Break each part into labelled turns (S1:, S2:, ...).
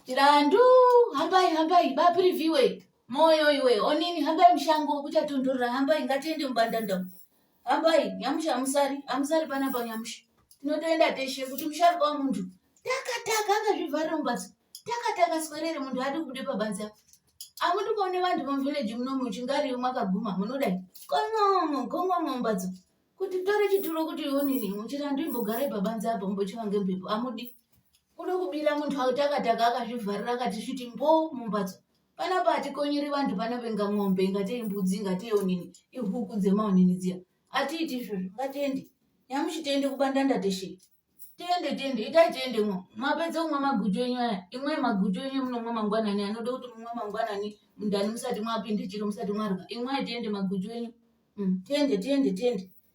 S1: Chirandu hambai hambai ba preview moyo iwe onini hambai mushango kuchatondorera hambai ngatiende mubandanda hambai nyamusha amusari amusari panapa nyamusha tinotoenda teshe kuti musharuka wemuntu takataka akazvivharira mumbatso takataka swerere muntu adi kubude pabanze apo amuti kuone vantu vamuvhileji muno muchingariyo mwakaguma munodai konomo gomwa mumbatso kuti tore chituro kuti onini muchirandu imbogarai pabanze apo mbochiva ngemhepo amudi kuno kubira munhu auti akadhaka akazvivharira akati sviti mbo mumbatso panapa hatikonyeri vanhu panapa inga mombe ingatei mbudzi ingatei onini ihuku dzemaonini dziya atiiti izvozvo ngatiende nyamushi tiende kubandanda teshe tiende tiende itai tiende mwo mapedza kumwa maguchu enyu aya imwai maguchu enyu munomwa mangwanani anoda kuti mumwe mangwanani mundani musati mwapinde chiro musati mwarwa imwai tiende maguchu enyu mm, tiende tiende tiende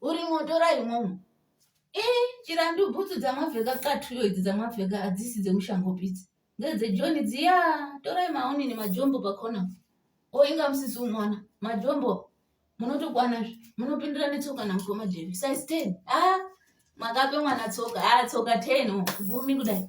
S1: uri moto ra imomo e chirandu bhutsu dzamapfeka katuyo idzi dzamapfeka hadzisi dzemushango pitsi ngedzejoni dziya torai maoni nemajombo pakona o oh, inga musisi umwana majombo munotokwana zve munopindira netsoka namukoma jevi size ten a ah, makape mwana tsoka a ah, tsoka ten oh, gumi kudai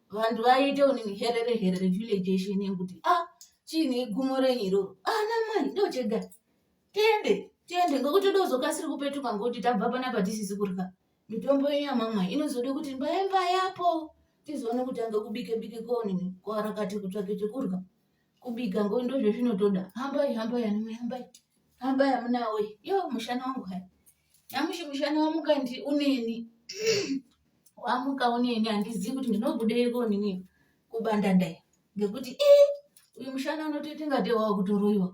S1: vanhu vaiite unimiherere herere village yeshe inenge kuti a ah, chiine igumo renyu iroro ana ah, mai ndochega tiende tiende ngokuti ndozokasiri kupetuka ngokuti tabva panapa tisisi kurya mitombo yenyu yamamwai inozode kuti mbaye mbayapo tizoone kutanga kubike bike koonini koarakati kutsvake chekurya kubika ngo ndozvezvinotoda hambai hambai anamai hambai hambai amunawe yo mushana wangu hai nyamushi mushana wamuka ndi uneni wamuka uneni handizivi kuti ndinobudeyi konini kubandandai ngekuti i uyu mushana unotoita ngate wava kutoroyiwa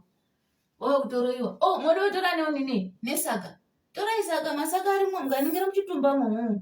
S1: wava kutoroyiwa o oh, moda kutora neunini nesaka torai saka masaka arimo mukaningira muchitumbamo